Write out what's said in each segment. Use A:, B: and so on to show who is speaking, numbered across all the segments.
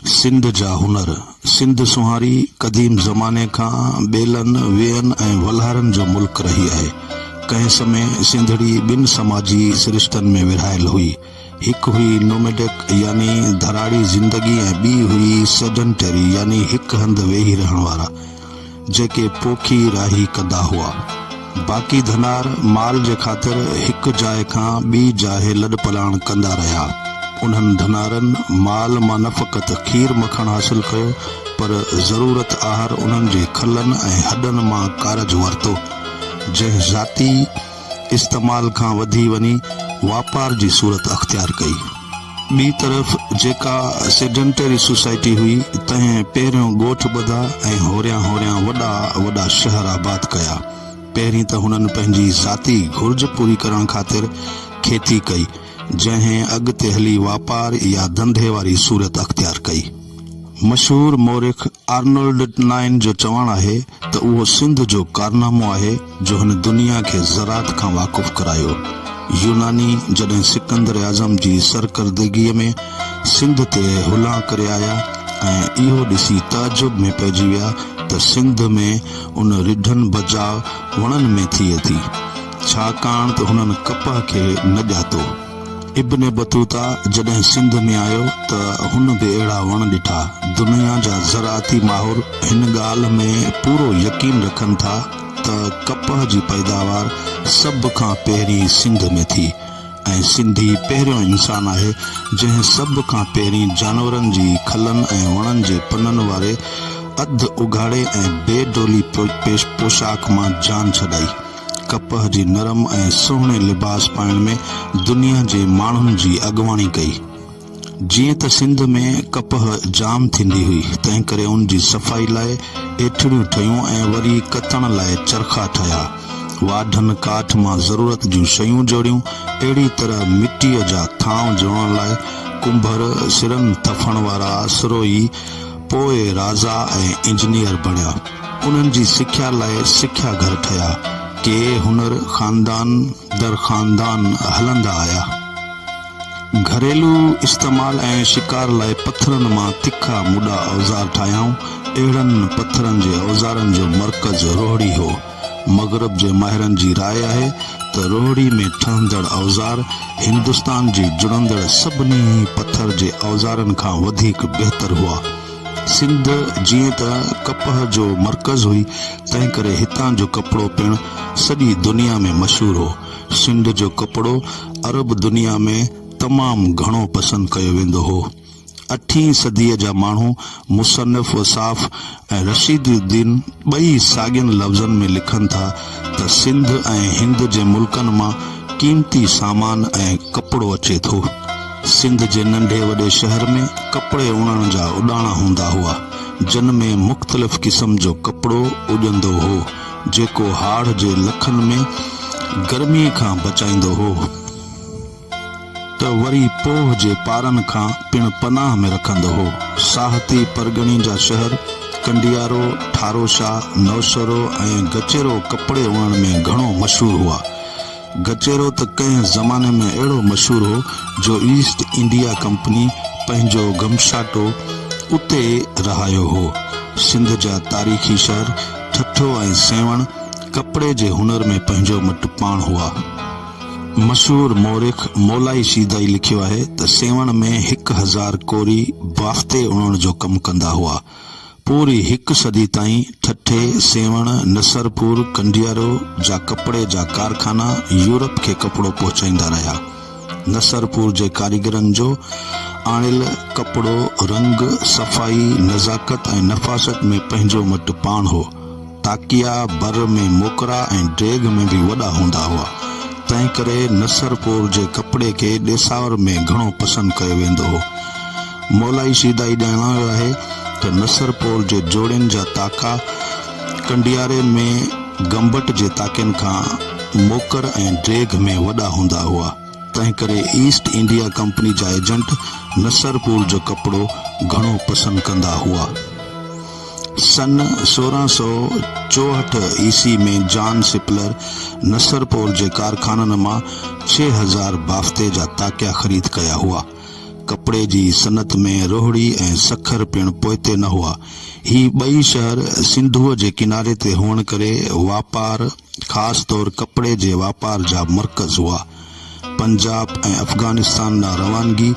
A: سنڌ جا هنر، سنڌ سونهاري قديم زماني کان ٻيلن، ويئن ۽ ولهارن جو ملڪ رهي آهي. ڪنهن سمي سنڌڙي ٻن سماجي سرشتن ۾ ورهايل هئي. هڪ هئي Nomadic يعني ڌراڙي زندگي ۽ ٻي هئي Sedentary يعني هڪ هنڌ ويهي رهڻ وارا. جيڪي پوکي راهي ڪندا هئا. باقي ڌنار مال جي خاطر هڪ جاء کان ٻي جاء لڏپلاڻ ڪندا رهيا. انهن ڌنارن مال مان نه فقط کير مکڻ حاصل ڪيو پر ضرورت آهر انهن جي کلن ۽ هڏن مان ڪارج ورتو جنهن ذاتي استعمال کان وڌي وڃي واپار جي صورت اختيار ڪئي. ٻي طرف جيڪا سيڊنٽري سوسائٽي هئي، تنهن پهريون ڳوٺ ٻڌا ۽ هوريان هوريان وڏا وڏا شهر آباد ڪيا. پهرين ته هنن پنهنجي ذاتي گهرج پوري ڪرڻ خاطر کيتي ڪئي، جنهن اڳتي هلي واپار يا ڌنڌي واري صورت اختيار ڪئي. مشهور مورخ آرنولڊ نائن جو چوڻ آهي ته اهو سنڌ جو ڪارنامو آهي جو هن دنيا کي زراعت کان واقف ڪرايو. يوناني جڏهن سڪندر اعظم جي سرڪردگيء ۾ سنڌ تي هلان ڪري آيا ۽ اهو ڏسي تعجب ۾ پئجي ويا ته سنڌ ۾ ان رڍن بجاء وڻن ۾ ٿئي ٿي، ڇاڪاڻ ته هنن ڪپهه کي نه ڄاتو. ابن بطوطا جڏهن سنڌ ۾ آيو ته هن به اهڙا وڻ ڏٺا. دنيا جا زراعتي ماهر هن ڳالهه ۾ پورو يقين رکن ٿا ته ڪپهه جي پيداوار سڀ کان پهرين سنڌ ۾ ٿي ۽ سنڌي پهريون انسان آهي جنهن سڀ کان پهرين جانورن جي کلن ۽ وڻن جي پنن واري اڌ اگهاڙي ۽ بي ڊولي پوشاڪ مان جان ڇڏائي. ڪپهه جي نرم ۽ سهڻي لباس پائڻ ۾ دنيا جي ماڻهن جي اڳواڻي ڪئي. جيئن ته سنڌ ۾ ڪپهه جام ٿيندي هئي، تنهنڪري ان جي صفائي لاء ايٺڙيون ٺهيون ۽ وري ڪتڻ لاء چرخا ٺهيا. واڍن ڪاٺ مان ضرورت جون شيون جوڙيون. اهڙي طرح مٽيء جا ٿانء جوڙڻ لاء ڪنڀر، سرن ٿڦڻ وارا، سروهي، پوء رازا ۽ انجنيئر بڻيا. انهن جي سکيا لاء سکيا گهر ٺهيا. ڪي هنر خاندان در خاندان هلندا آيا. گهريلو استعمال ۽ شڪار لاء پٿرن مان تکا مڊا اوزار ٺاهيائون. اهڙن پٿرن جي اوزارن جو مرڪز روهڙي هو. مغرب جي ماهرن جي راء آهي ته روهڙي ۾ ٺهندڙ اوزار هندستان جي جڙندڙ سڀني ئي پٿر جي اوزارن کان وڌيڪ بهتر هئا. سنڌ جيئن ته ڪپهه جو مرڪز هئي، تنهنڪري هتان جو ڪپڙو پڻ سڄي دنيا ۾ مشهور هو. سنڌ جو ڪپڙو عرب دنيا ۾ تمام گهڻو پسند ڪيو ويندو هو. اٺين صديء جا ماڻهو، مصنف وصاف ۽ رشيد الدين ٻئي ساڳين لفظن ۾ لکن ٿا ته سنڌ ۽ هند جي ملڪن مان قيمتي سامان ۽ ڪپڙو اچي ٿو. سنڌ جي ننڍي وڏي شهر ۾ ڪپڙي اڻڻ جا اڏاڻا هوندا هئا، جن ۾ مختلف قسم جو ڪپڙو اڏندو هو، جيڪو هاڙهه جي لکن ۾ گرميء کان بچائيندو هو. ته وري پوهه جي پارن کان پڻ پناهه ۾ رکندو هو. ساهتي پرڳڻي جا شهر ڪنڊيارو، ٺاروشا، نوشهرو ۽ گچيرو ڪپڙي اڻڻ ۾ گهڻو مشهور هئا. گچيرو ته ڪنهن زماني ۾ اهڙو مشهور هو جو ايسٽ انڊيا ڪمپني پنهنجو گمشاٽو اتي رهايو هو. سنڌ جا تاريخي شهر ٺٽو ۽ سيوهڻ ڪپڙي جي هنر ۾ پنهنجو مٽ پاڻ هئا. مشهور مورخ مولائي شيدائي لکيو آهي ته سيوهڻ ۾ هڪ هزار ڪوري بافتي اڻڻ جو ڪم ڪندا هئا. پوري هڪ صدي تائين ٺٽي، سيوهڻ، نصرپور، ڪنڊيارو جا ڪپڙي جا ڪارخانا يورپ کي ڪپڙو پهچائيندا رهيا. نصرپور جي ڪاريگرن جو آڻيل ڪپڙو رنگ، صفائي، نزاڪت ۽ نفاست ۾ پنهنجو مٽ پاڻ هو. تاڪيا بر ۾ موڪرا ۽ ڊيگهه ۾ به وڏا هوندا هئا، تنهن ڪري نصرپور جي ڪپڙي کي ڏيساور ۾ گهڻو پسند ڪيو ويندو هو. مولائي شيدائي ڄاڻايو آهي ته نصرپور جي جوڙين جا تاڪا ڪنڊياري ۾ گمبٽ جي تاڪين کان موڪر ۽ ڊيگهه ۾ وڏا هوندا هئا، تنهن ڪري ايسٽ انڊيا ڪمپني جا ايجنٽ نصرپور جو ڪپڙو گهڻو پسند ڪندا هئا. سن سورهن سؤ چوهٺ عيسوي ۾ جان سپلر نصرپور جي ڪارخانن مان ڇهه هزار بافتي جا تاڪيا خريد ڪيا هئا. ڪپڙي جي صنعت ۾ روهڙي ۽ سکر پڻ پوئتي نه هئا. هي ٻئي شهر سنڌوء جي ڪناري تي هئڻ ڪري واپار، خاص طور ڪپڙي جي واپار جا مرڪز هئا. پنجاب ۽ افغانستان ڏانهن روانگي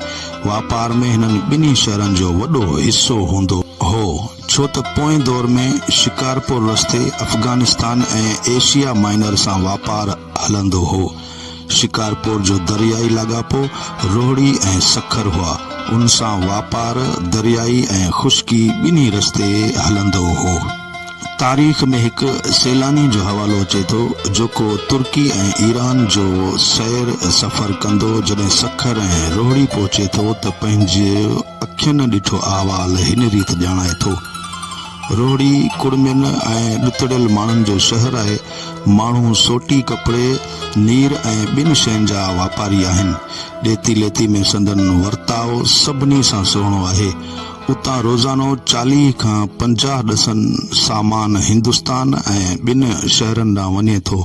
A: واپار ۾ هنن ٻنهي شهرن جو وڏو حصو هوندو هو، ڇو ته پوئين دور ۾ شڪارپور رستي افغانستان ۽ ايشيا مائنر سان واپار هلندو هو. شڪارپور جو دريائي لاڳاپو روهڙي ۽ سکر هئا، ان سان واپار دريائي ۽ خشڪي ٻنهي رستي هلندو هو. تاريخ ۾ هڪ سيلاني جو حوالو اچي ٿو جيڪو ترڪي ۽ ايران جو سير سفر ڪندو جڏهن سکر ۽ روهڙي پهچي ٿو ته پنهنجي اکين ڏٺو احوال هن ريت ڄاڻائي ٿو، روهڙي ڪڙمين ۽ ڏتڙيل ماڻهن جو شهر آهي، ماڻهو سوٽي ڪپڙي، نير ۽ ٻين شين جا واپاري آهن، ڏيتي ليتي ۾ سندن ورتاء سڀني سان سهڻو آهي، اتان روزانو چاليهه کان پنجاهه ڏسن سامان هندستان ۽ ٻين شهرن ڏانهن وڃي ٿو.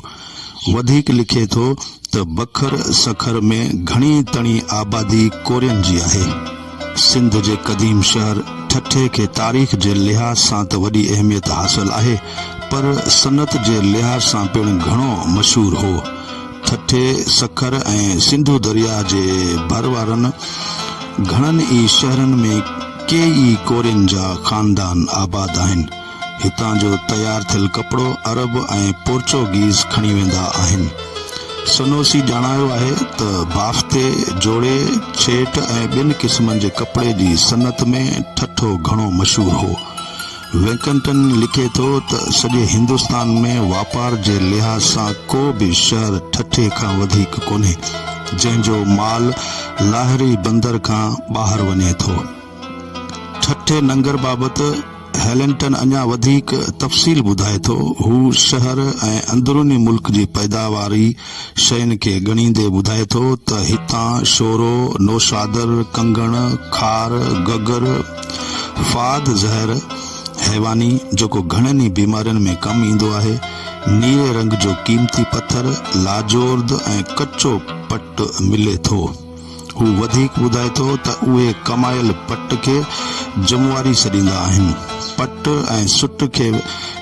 A: وڌيڪ لکي ٿو ته بکر سکر ۾ گهڻي تڻي آبادي ڪورين جي آهي. سنڌ جي قديم شهر ٺٽي کي تاريخ جي لحاظ سان ته وڏي اهميت حاصل آهي پر صنعت جي لحاظ سان پڻ گهڻو مشهور هو. ٺٽي، سکر ۽ سنڌو درياء جي ڀر وارن گهڻن ئي شهرن ۾ ڪيئي ئي ڪورين جا خاندان آباد آهن. هتان جو تيار ٿيل ڪپڙو عرب ۽ پورچوگيز کڻي ويندا آهن. سنوسي ڄاڻايو آهي ته بافٿي، جوڙي، ڇيٽ ۽ ٻين قسمن جي ڪپڙي جي صنعت ۾ ٺٽو گهڻو مشهور هو. وينڪنٽن لکي ٿو ته سڄي هندستان ۾ واپار جي لحاظ سان ڪو به شهر ٺٽي کان وڌيڪ ڪونهي، جنهن جو مال لاهري بندر کان ٻاهر وڃي ٿو. ٺٽي ننگر بابت هيلنٽن اڃا وڌيڪ تفصيل ٻڌائي ٿو، هو شهر ۽ اندروني ملڪ جي پيداواري، شين کي ڳڻيندي ٻڌائي ٿو ته هتان شورو، نوشادر، ڪنگڻ، خار، گگر، فاد زهر، حيواني، جيڪو گهڻن ئي بيمارين ۾ ڪم ايندو آهي، نيري رنگ جو قيمتي پٿر، لاجورد ۽ ڪچو پٽ ملي ٿو. هو وڌيڪ ٻڌائي ٿو ته اهي ڪمايل پٽ کي جمواري سڏيندا آهن. پٽ ۽ سٽ کي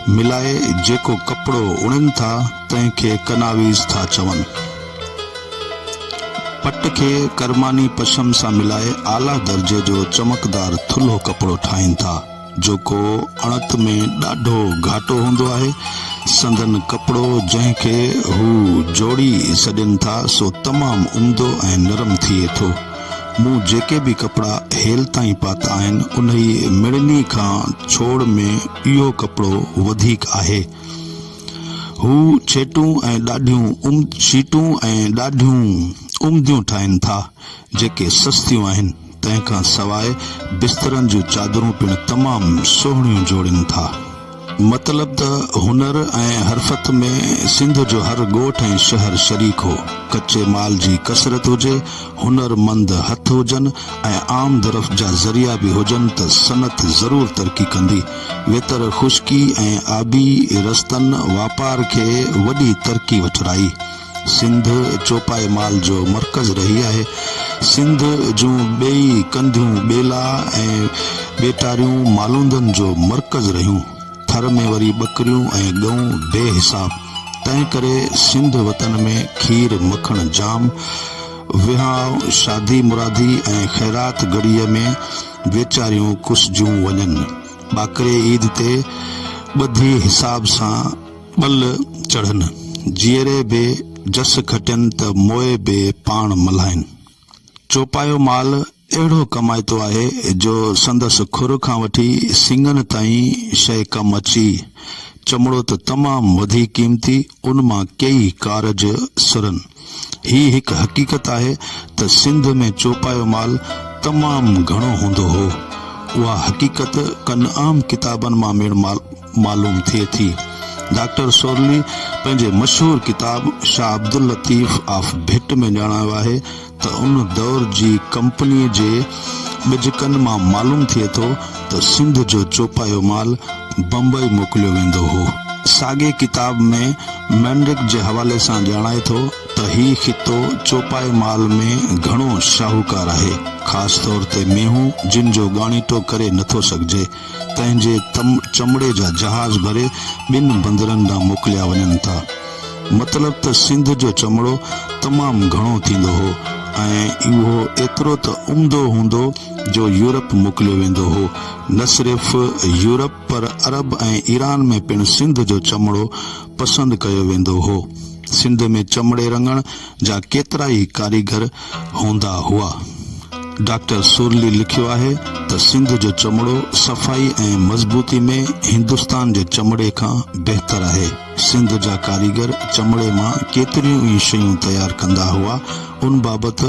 A: ملائي جيڪو ڪپڙو اڻين ٿا، تنهن کي ڪناويز ٿا چون. پٽ کي ڪرماني پشم سان ملائي اعليٰ درجي جو چمڪدار ٿلهو ڪپڙو ٺاهين ٿا. جيڪو اڻت ۾ ڏاڍو گهاٽو هوندو آهي. سندن ڪپڙو جنهن کي هو جوڙي سڏين ٿا سو تمام عمدو ۽ نرم ٿئي ٿو. مون جيڪي به ڪپڙا هيل تائين پاتا آهن انهي مڙني کان ڇوڙ ۾ اهو ڪپڙو وڌيڪ آهي. هو شيٽون ۽ ڏاڍيون شيٽون ۽ ڏاڍيون عمديون ٺاهين ٿا جيڪي سستيون آهن. تنهن کان سواء بسترن جون چادرون پڻ تمام سهڻيون جوڙين ٿا. مطلب ته هنر ۽ حرفت ۾ سنڌ جو هر ڳوٺ ۽ شهر شريڪ هو. ڪچي مال جي ڪثرت هجي، هنر مند هٿ هجن ۽ آمدرفت جا ذريعا به هجن ته صنعت ضرور ترقي ڪندي. ويتر خشڪي ۽ آبي رستن واپار کي وڏي ترقي وٺرائي. سنڌ چوپائي مال جو مرڪز رهي آهي. سنڌ جون ٻيئي ڪنڌيون ٻيلا ۽ ٻيٽاريون مالوندن جو مرڪز رهيون. ٿر ۾ وري ٻڪريون ۽ ڳئون بي حساب. تنهن ڪري سنڌ وطن ۾ کير مکڻ جام. وهانء، شادي مرادي ۽ خيرات گهڙيء ۾ ويچاريون ڪسجيون وڃن. ٻاڪري عيد تي ٻڌي حساب سان. ٻل چڙهن جيئري به جس کٽين ته موئي به پاڻ ملهائين. چوپايو مال اهڙو ڪمائتو آهي جو سندس کر کان وٺي سنڱن تائين شيء ڪم اچي. چمڙو ته تمام وڌيڪ قيمتي، ان مان ڪيئي ڪارج سرن. هي هڪ حقيقت آهي ته سنڌ ۾ چوپايو مال تمام گهڻو هوندو هو. اها حقيقت ڪن اهم ڪتابن مان ميڻ معلوم ٿئي ٿي. ڊاڪٽر سورلي پنهنجي مشهور ڪتاب شاهه عبداللطيف آف ڀٽ ۾ ڄاڻايو آهي ته ان دور جي ڪمپني جي ٻجڪن مان معلوم ٿئي ٿو ته سنڌ جو چوپايو مال بمبئي موڪليو ويندو هو. ساڳئي ڪتاب ۾ مينرڪ جي حوالي سان ڄاڻائي ٿو ته هي خطو چوپائي مال ۾ گهڻو شاهوڪار آهي، خاص طور تي مينهون جن جو ڳاڻيٽو ڪري نٿو سگهجي، تنهن جي چمڙي جا جهاز ڀري ٻن بندرن ڏانهن موڪليا وڃن ٿا. مطلب ته سنڌ جو چمڙو تمام گهڻو ٿيندو هو ۽ اهو ايترو ته عمدو هوندو، جو يورپ موڪليو ويندو هو. نه صرف يورپ پر عرب ۽ ايران ۾ پڻ سنڌ جو چمڙو پسند ڪيو ويندو هو. سنڌ ۾ چمڙي رڱڻ جا ڪيترائي ڪاريگر هوندا هئا. ڊاڪٽر سورلي لکيو آهي ته سنڌ جو چمڙو صفائي ۽ مضبوطي ۾ هندستان جي چمڙي کان بهتر آهي. سنڌ جا ڪاريگر چمڙي مان ڪيتريون ئي شيون تيار ڪندا هئا، ان بابت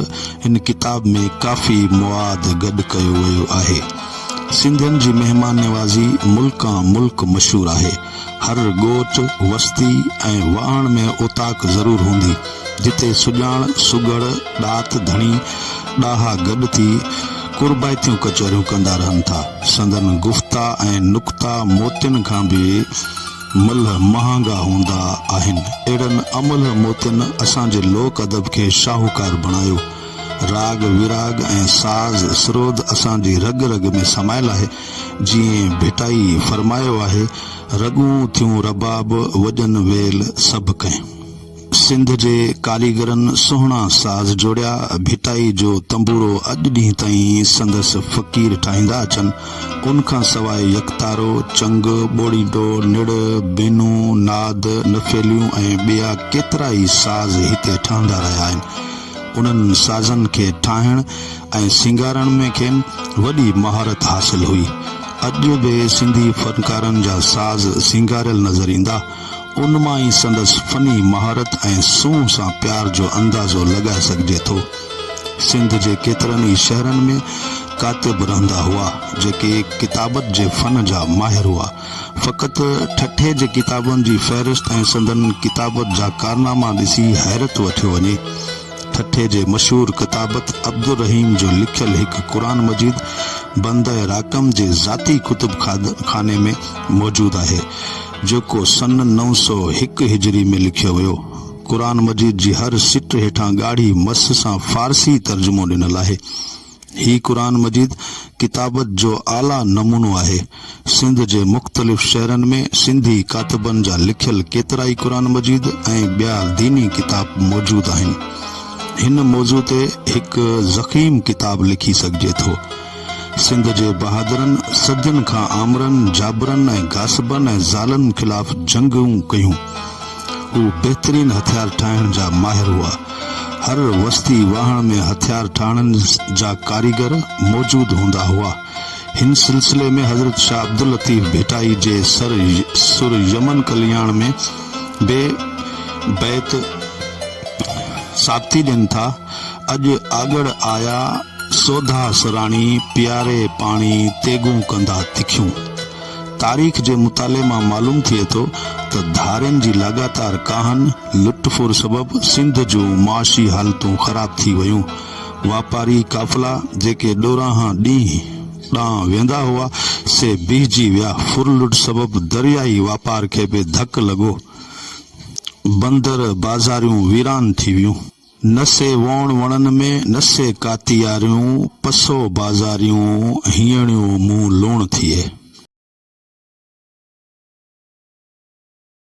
A: هن ڪتاب ۾ ڪافي مواد گڏ ڪيو ويو آهي. سنڌين جي مهمان نوازي ملڪان ملڪ مشهور آهي. هر ڳوٺ، وستي ۽ واهڻ ۾ اوطاق ضرور هوندي، جتي سڄاڻ، سگهڙ، ڏات، ڌڻي، ڏاها گڏ ٿي قربائتيون ڪچهريون ڪندا رهن ٿا. سندن گفتا ۽ نڪتا موتين کان به ملهه مهانگا هوندا آهن. اهڙن املهه موتين اسان جي لوڪ ادب کي شاهوڪار بڻايو. راڳ ويراڳ ۽ ساز سرود اسان جي رڳ رڳ ۾ سمايل آهي. جيئن ڀٽائي فرمايو آهي، رڳون ٿيون رباب، وڄن ويل سڀ ڪنهن. سنڌ جي ڪاريگرن سهڻا ساز جوڙيا، ڀٽائي جو تنبوڙو اڄ ڏينهن تائين سندس فقير ٺاهيندا اچن، ان کان سواء يڪتارو، چنگ، ٻوڙيڊو، نڙ، بينو، ناد، نفيليون ۽ ٻيا ڪيترا ئي ساز هتي ٺهندا رهيا آهن. انهن سازن کي ٺاهڻ ۽ سينگارڻ ۾ کين وڏي مهارت حاصل هئي. اڄ به سنڌي فنڪارن جا ساز سينگاريل نظر ايندا. ان مان ئي سندس فني مهارت ۽ سونهن سان پيار جو اندازو لڳائي سگهجي ٿو. سنڌ جي ڪيترن ئي شهرن ۾ ڪاتب رهندا هئا، جيڪي ڪتابت جي فن جا ماهر هئا. فقط ٺٽي جي ڪتابن جي فهرست ۽ سندن ڪتابت جا ڪارناما ڏسي حيرت وٺيو وڃي. ٺٽي جي مشهور ڪتابت عبدالرحيم جو لکيل هڪ قرآن مجيد بندهء راقم جي ذاتي ڪتب خاني ۾ موجود آهي. جيڪو سن نو سؤ هڪ هجري ۾ لکيو ويو. قرآن مجيد جي هر سٽ هيٺان ڳاڙهي مس سان فارسي ترجمو ڏنل آهي. هي قرآن مجيد ڪتابت جو اعليٰ نمونو آهي. سنڌ جي مختلف شهرن ۾ سنڌي ڪاتبن جا لکيل ڪيترائي قرآن مجيد ۽ ٻيا ديني ڪتاب موجود آهن. هن موضوع تي هڪ ضخيم ڪتاب لکي سگهجي ٿو. سنڌ جي بهادرن صدين کان آمرن، جابرن ۽ غاصبن ۽ ظالن خلاف جنگون ڪيون. هو بهترين هٿيار ٺاهڻ جا ماهر هئا. هر وستي واهڻ ۾ هٿيار ٺاهڻ جا ڪاريگر موجود هوندا هئا. هن سلسلي ۾ حضرت شاهه عبداللطيف ڀٽائي جي سر سر يمن ڪلياڻ ۾ به بيت ثابتي ڏين ٿا. اڄ آڳڙ آيا سوڌا سراڻي پياري پاڻي تيغون ڪندا تکيون. تاريخ جي مطالعي مان معلوم ٿئي ٿو ته ڌارين جي لاڳاتار ڪاهن، لٽ ڦر سبب سنڌ جون معاشي حالتون خراب ٿي ويون. واپاري قافلا جيڪي ڏورانهن ڏينهن ڏانهن ويندا هئا سي بيهجي ويا. ڦر لٽ سبب درياهي واپار کي به ڌڪ لڳو. بندر بازاريون ويران ٿي ويون. نه سي ووڻ وڻن ۾، نه سي ڪاتياريون، پسو بازاريون، هيڻيون مون لوڻ ٿئي.